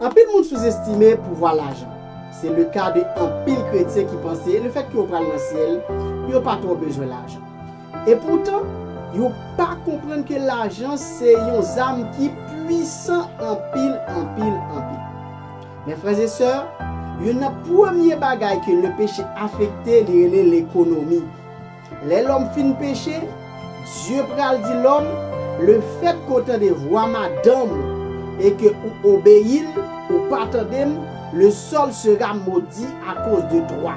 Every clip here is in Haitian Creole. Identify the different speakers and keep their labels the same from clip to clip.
Speaker 1: Anpil moun souzestime pouvwa lajan. Se leka de anpil kretyen ki panse lefètke yo pral nan syèl, yo pa twò bezwen lajan. Epoutan, yo pa konprann ke lajan se yon zam ki puisan anpil, anpil, anpil. Men frè e sè, youn nan premye bagay ke lepeche afekte li rele lekonomi. Lè lòm fin peche, Dye pral di lòm, Lefèt ke w tande vwa madanm ou, e ke ou obeyi l, ou pa tande m, le sol sera maudit à cause de toi.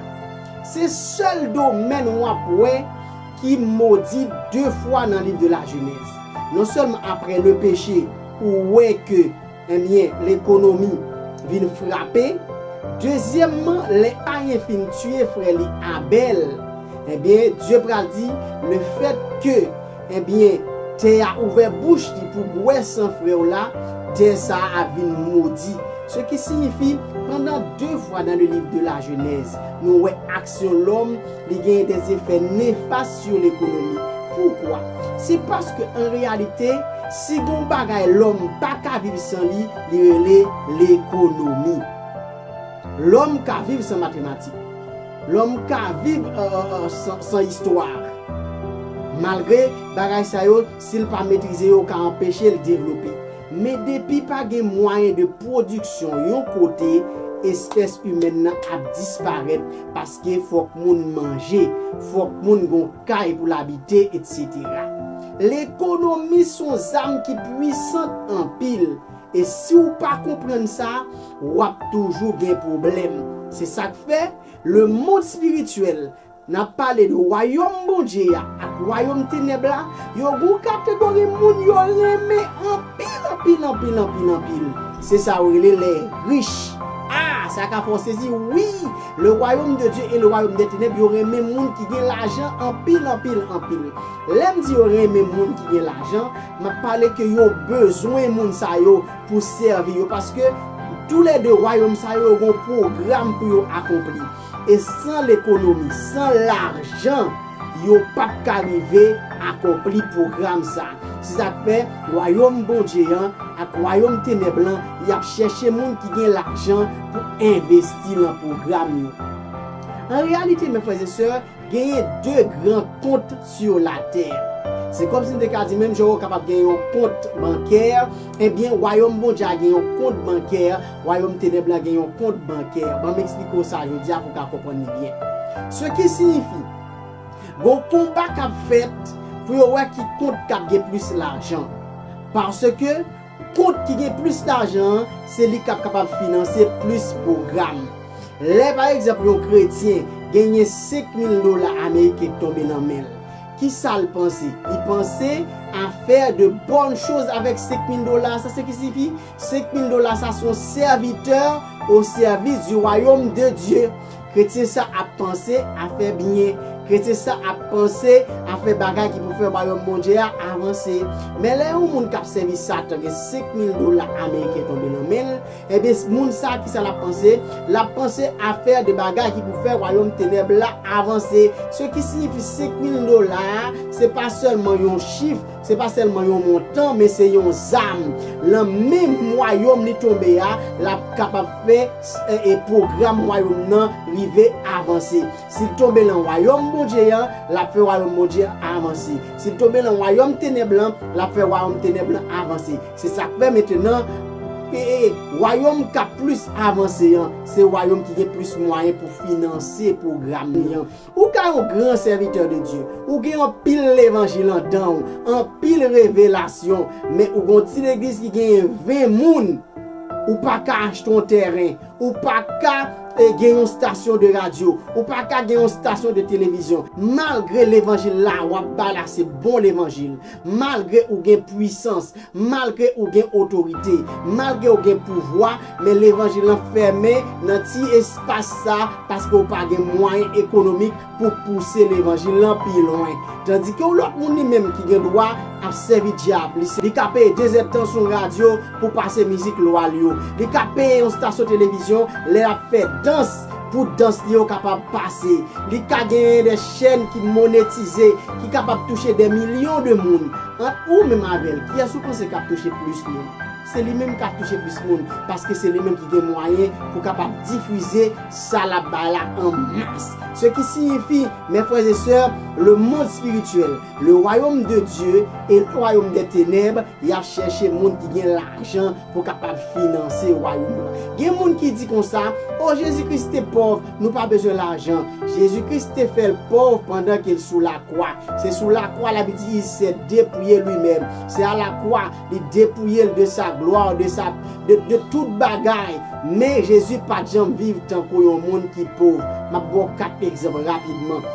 Speaker 1: Se sèl domèn w ap wè ki modi de fwa nan liv de la Genèse. Non sèlman aprè le peche, ou wè ke. Ebyen lekonomi vin frape. Dezyèmman lè Kayen fin tiye frè li Abèl, ebyen Dye pral di lefèt ke ebyen tè a ouvè bouch li pou bwè san frè w la, tè sa a ap vin modi. Se ki siyifi pandan 2 fwa dan le liv de la Jenèz nou wè ak. sou lòm, li genyen de zefè nefas sou lekonomi. Poukwa? Se paske an reyalite, si gen yon bagay lòm pa ka viv san li, li rele lekonomi. Lòm ka viv san matematik. Lòm ka viv san istwa. Malgre, bagay sa yo, si l pa metrize yo ka anpeche l devlope. Men depi pa gen mwayen de pwodiksyon yon kote, espès imèn nan ap disparèt paske fòk moun manje, fòk moun gen yon kay pou l abite, etsetera. Lekonomi s on zam ki pwisant anpil e si w pa konprann sa, w ap toujou gen pwoblèm. Se sa k fè, lemonn espirityèl N ap pale de Wayòm Bondye a ak wayòm tenèb la, yo gou kategori moun yo renmen anpil anpil anpil anpil anpil. Se sa yo rele lè rich. A! Sa ka fè w sezi, wi! Le Wayòm de Dye e le Wayòm dè tenèb yo renmen moun ki gen lajan anpil anpil anpil. Lè m di yo renmen moun ki gen lajan, m ap pale ke yo bezwen moun sa yo pou sèvi yo paske toulède wayòm sa yo yo gen yon pwogram pou yo akonpli. E san lekonomi, san lajan, yo pa t ka rive akonpli pwogram sa a. Se sa k fè, wayòm Bondye an ak wayòm tenèb lan, y ap chèche moun ki gen lajan pou envesti nan pwogram yo. An reyalite, mè frè e sè, Genyen de gran kont sur la tè. Se kòmsi n te ka di menm jan ou kapab gen yon kont bankè, ebyen wayòm Bondye a gen yon kont bankè, wayòm tenèb la gen yon kont bankè. Ban m esplike w sa jodi a pou w ka konprann li byen. Se ki siyifi, gon konba k ap fèt pou yo wè ki kont k ap gen plis lajan. Paske. Kont ki gen plis lajan an, se li k ap kapab finanse plis pwogram. Lè pa egzanp yon kretyen genyen 5 mil dola ameriken k tonbe nan men l, ki sa l panse? Li panse a fè de bòn choz avèk 5 mil dola sa. Se ki sifi, 5 mil dola sa s on sèvitè o sèvis di wayom de Dye. Kretyen sa ap panse a fè byen. Kretyen sa ap panse a fè bagay ki pou fè Wayòm Bondye a avanse. Men lè yon moun k ap sèvi Satan gen senk mil dola ameriken tonbe nan men l, enben, moun sa a ki sa l ap panse? L ap panse a fè de bagay ki pou fè wayòm tenèb la avanse. Se ki siyifi senk mil dola a, se pa sèlman yon chif, se pa sèlman yon montan, men se yon zam. Nan men Wayòm li tonbe a, l ap kapab fè. e pwogram Wayòm nan rive avanse. Si l tonbe nan Wayòm Bondye a, l ap fè Wayòm Bondye a avanse. Si l tonbe nan wayòm tenèb la, l ap fè wayòm tenèb la avanse. Se sa k fè mentenan, wayòm k ap plis avanse an, se wayòm ki gen plis mwayen pou finanse pwogram li an. Ou ka yon gran sèvitè de Dye, ou gen anpil levanjil andan ou, anpil revelasyon, men ou gon ti legliz ki genyen 20 moun, ou pa ka achte yon tèren, ou pa ka gen yon stasyon de radyo, ou pa ka gen yon stasyon de televizyon, malgre levanjil la wap bay la se bon levanjil, malgre ou gen pwisans, Malgre ou gen otorite, malgre ou gen pouvwa, men levanjil lan fèmen nan ti espas sa paske ou pa gen mwayen ekonomik pou pouse levanjil lan pi lwen. Tandike yon lòt moun li menm ki gen dwa ap sèvi dyab li, li ka peye 2 zè tan sou yon radyo pou pase mizik lwa l yo, li ka peye yon stasyon televizyon lè l ap fè dans, Pou dans li yo kapab pase, li ka genyen de chèn ki monetize, ki kapab touche de milyon de moun. Ant ou menm avè l, kiyès ou panse k ap touche plis moun? Se li menm k ap touche plis moun, paske se li menm ki gen mwayen pou kapab difize sa l ap bay la an mas. Se ki siyifi, mè frè e sè, le mond spirityèl, le wayom de Dye e le wayom de tenèb, y ap chèche moun ki gen lajan, pou kapab finanse Wayòm nan. Gen moun ki di konsa, O, Jezi Kris te pòv, nou pa bezwen lajan. Jezi Kris te fè l pòv pandan ke l sou lakwa. Se sou lakwa la bi di, il s'est depouillé lui-même. Se a lakwa li depouye l de sa glwa, de sa, de tout bagay. Men Jezi pa t janm viv tankou yon moun ki pòv. M ap ba w kat egzanp rapidman.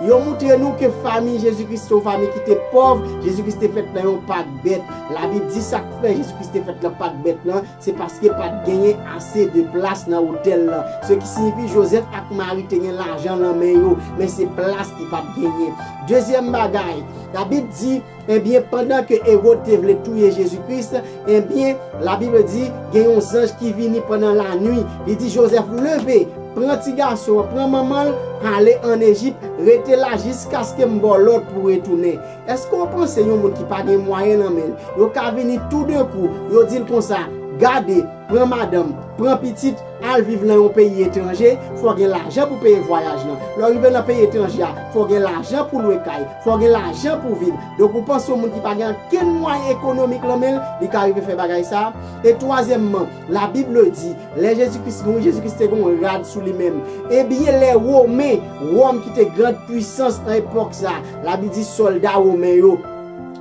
Speaker 1: Yo moutre nou ke fanmi Jezi Kris se yon fanmi ki te pòv. Jezi Kris te fèt nan yon pak bèt. La Bib di sa. Lè Jezi Kris te fèt nan pak bèt lan, se paske pa t genyen ase de plas nan otèl lan. Se ki siyifi Jozèf ak Mari te gen lajan nan men yo, men se plas ki pa t genyen. Dezyèm bagay, Labib di, Ebyen, pandan ke Ewod te vle touye Jezi Kris, ebyen, Labib di, gen yon zanj ki vini pandan lanui, li di Jozèf, Leve, pran tigason an, pran manman l, ale ann Ejip, rete la jiskaske m ba w lòd pou w retounen. Eske w panse yon moun ki pa gen mwayen nan men l, yo ka vini toudenkou, yo di l konsa, Gade, pran madanm, pran pitit, al viv nan yon peyi etranje, fò w gen lajan pou peye vwayaj lan. Lè w rive nan peyi etranje a, fò w gen lajan pou lwe kay, fò w gen lajan pou viv. Donk ou panse yon moun ki pa gen ankenn mwayen ekonomik lan men l, li ka rive fè bagay sa a? E twazyèmman, La Bible di, lè Jezi Kris mouri, Jezi Kris te gen yon rad sou li menm. Ebyen lè Women, Wòm ki te grand pwisans nan epòk sa, la Bi di sòlda Women yo,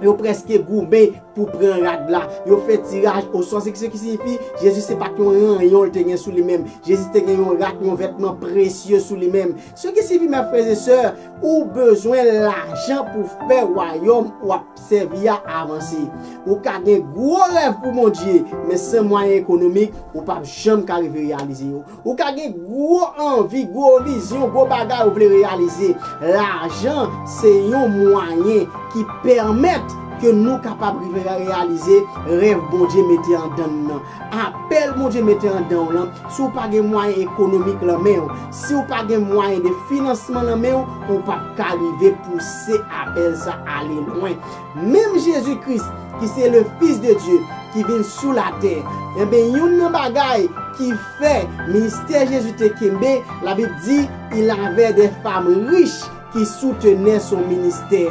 Speaker 1: yo prèske goumen pou pran rad la, yo fè tiraj osò, se ki siyifi, Jezi se pa t yon ranyon l te gen sou li menm, Jezi te gen yon rad, yon vètman presye sou li menm. Se ki siyifi mè frè e sè, ou bezwen lajan pou fè wayòm w ap. Sèvi a avanse. Ou ka gen gwo rèv pou Bondye, men san mwayen ekonomik, ou pap janm ka rive reyalize yo. Ou ka gen gwo anvi, gwo vizyon, gwo bagay ou vle reyalize. Lajan se yon mwayen ki pèmèt ke nou kapab rive reyalize rèv Bondye mete andann nan. Apèl Bondye mete andan w lan, si w pa gen mwayen ekonomik lan men w, si w pa gen mwayen de finansman lan men w, ou p ap ka rive pouse apèl sa ale lwen. Menm Jezi Kris ki se le Fis de Dye ki vin sou latè, enben youn nan bagay ki fè ministè Jezi te kenbe, Labib di, il avè dè fam rich ki soutenè son ministè.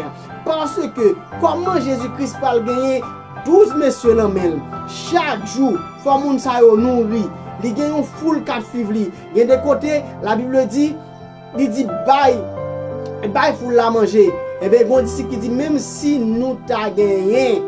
Speaker 1: Paske kòman Jezi Kris pral genyen 12 mesye lan men l chak jou fò moun sa yo nouri li gen yon foul k ap suiv li gen de kote la bible di li di bay bay foul la manje enben gen yon disip ki di menm si nou ta genyen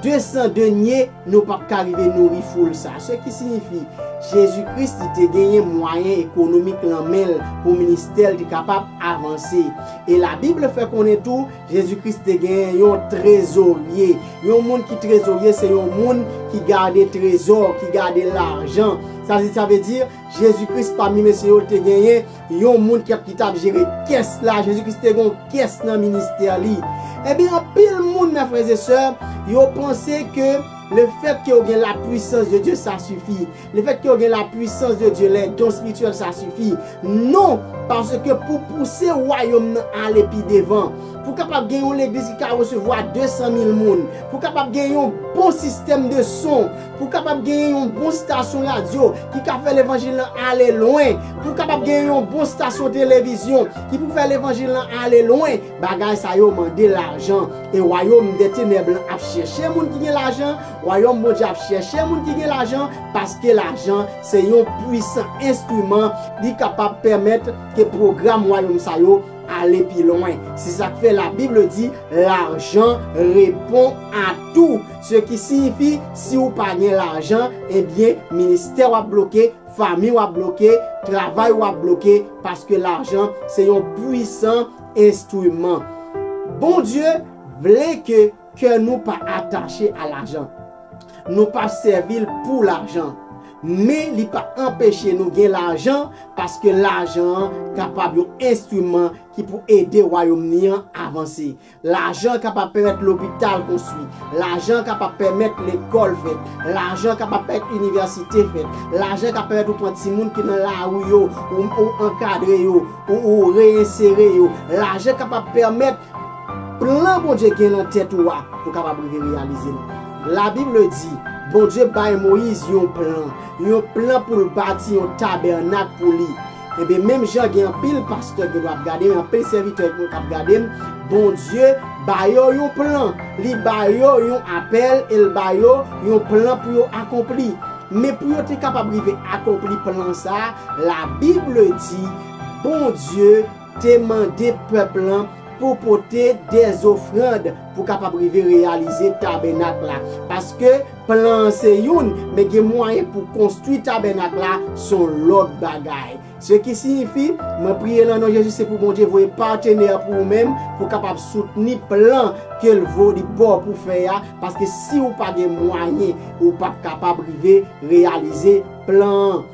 Speaker 1: 200 denye nou p ap ka rive nouri foul sa se ki sinifi jezi kris li te genyen mwayen ekonomik lan men l pou ministè l te kapab avanse e la bible fè konnen tou Jezi Kris te gen yon trezorye. Yon moun ki trezorye se yon moun ki gade trezò, ki gade lajan. Sa vle di, Jezi Kris pami mesye yo, li te genyen yon moun ki t ap jere kès la. Jezi Kris te gen yon kès nan ministè li. Ebyen, anpil moun nan frè e sè, yo panse ke lefètke yo gen lapwisans de Dye sa sifi. Le fait que yo gen la puissance de Dieu, les dons spirituels ça suffit? Non! Parce que pou pouse wayom nan ale pi devan, pou kapab gen yon legliz ki ka resevwa 200 mil moun, pou kapab gen yon bon système de son, pou kapab genyen yon bon station radio ki ka fè levanjil lan ale lwen, pou kapab genyen yon bon station television ki pou fè levanjil lan ale lwen, bagay sa yo mande lajan. E wayom de tenèb lan ap chèche moun ki gen lajan, Wayòm Bondye ap chèche moun ki gen lajan, paske lajan se yon puisan enstriman, li kapab pèmèt ke pwogram wayòm sa yo ale pi lwen. Se sa k fè Labib di, Lajan repon a tou. Se ki siyifi, si ou pa gen lajan, ebyen, ministè w ap bloke, fanmi w ap bloke, travay ou ap bloke, paske lajan se yon puisan enstriman. Bondye vle ke. Kè nou pa atache a lajan. Nou pa sèvi l pou lajan. Men li pa anpeche nou gen lajan paske lajan an kapab yon enstriman ki pou ede Wayòm ni an avanse. Lajan kapab pèmèt lopital konstwi. Lajan kapab pèmèt lekòl fèt. Lajan kapab pèmèt inivèsite fèt. Lajan ka pèmèt ou pran timoun ki nan lari yo, ou ankadre yo, ou reyensere yo. Lajan kapab pèmèt. Plan Bondye gen nan tèt ou a pou kapab rive reyalize l. La Bible di, Bondye bay Moyiz yon plan, yon plan pou l bati yon tabènak pou li. Enben menm jan gen anpil pastè gen dwa ap gade m, anpil sèvitè gen dwa ap gade m, Bondye ba yo yon plan, li ba yo yon apèl e l ba yo yon plan pou yo akonpli. Men pou yo te kapab rive akonpli plan sa a, la Bible di, Bondye. te mande pèp lan pou pote de ofrand pou kapab rive reyalize tabènak la, paske plan an se youn, men gen mwayen pou konstwi tabènak la s on lòt bagay. Se ki siyifi, mwen priye lan non Jezi se pou Bondye voye patenè pou ou menm pou kapab soutni plan ke l vo li ba w pou fè a, paske si ou pa gen mwayen ou p ap kapab rive reyalize plan an.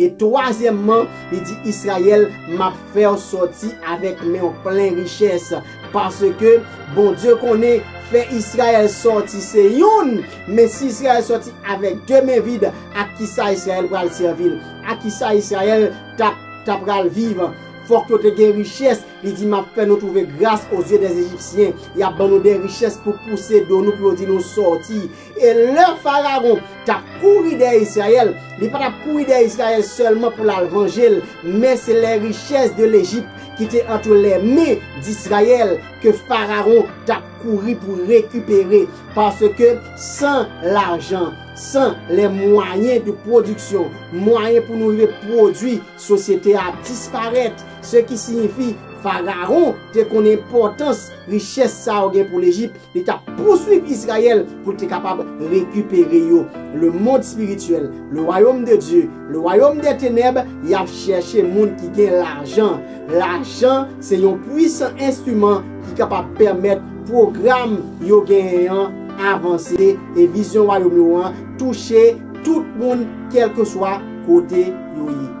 Speaker 1: E twazyèmman, li di Izrayèl, M ap fè w sòti avèk men w plen richès. Paske, Bondye konnen, fè Izrayèl sòti se youn, men si Izrayèl sòti avèk de men vid, ak ki sa Izrayèl pral sèvi l? Ak ki sa Izrayèl t apral viv? Fòk yo te gen richès. Li di, M ap fè nou twouve gras ozye dèzejipsyen. Y ap ban nou de richès pou pouse do nou pou yo di nou, 'Sòti! E lè Farawon t ap kouri dèyè Israël, li pa t ap kouri dèyè Israël sèlman pou l al vanje l, men se lè richès de Lejip ki te antre lè men d'Israël ke Farawon t ap kouri pou rekipere, paske san lajan, san lè mwayen de pwodiksyon, mwayen pou nou rive pwodui, sosyete a ap disparèt, se ki siyifi Farawon te konn enpòtans richès sa yo gen pou Lejip. Li t ap pousuiv Izrayèl pou l te kapab rekipere yo. Lemonn espirityèl, le wayom de Dye, le wayom dè tenèb, y ap chèche moun ki gen lajan. Lajan se yon puisan enstriman ki kapab pèmèt pwogram yo genyen an avanse e vizyon wayom yo an touche tout moun kèlkeswa kote yo ye.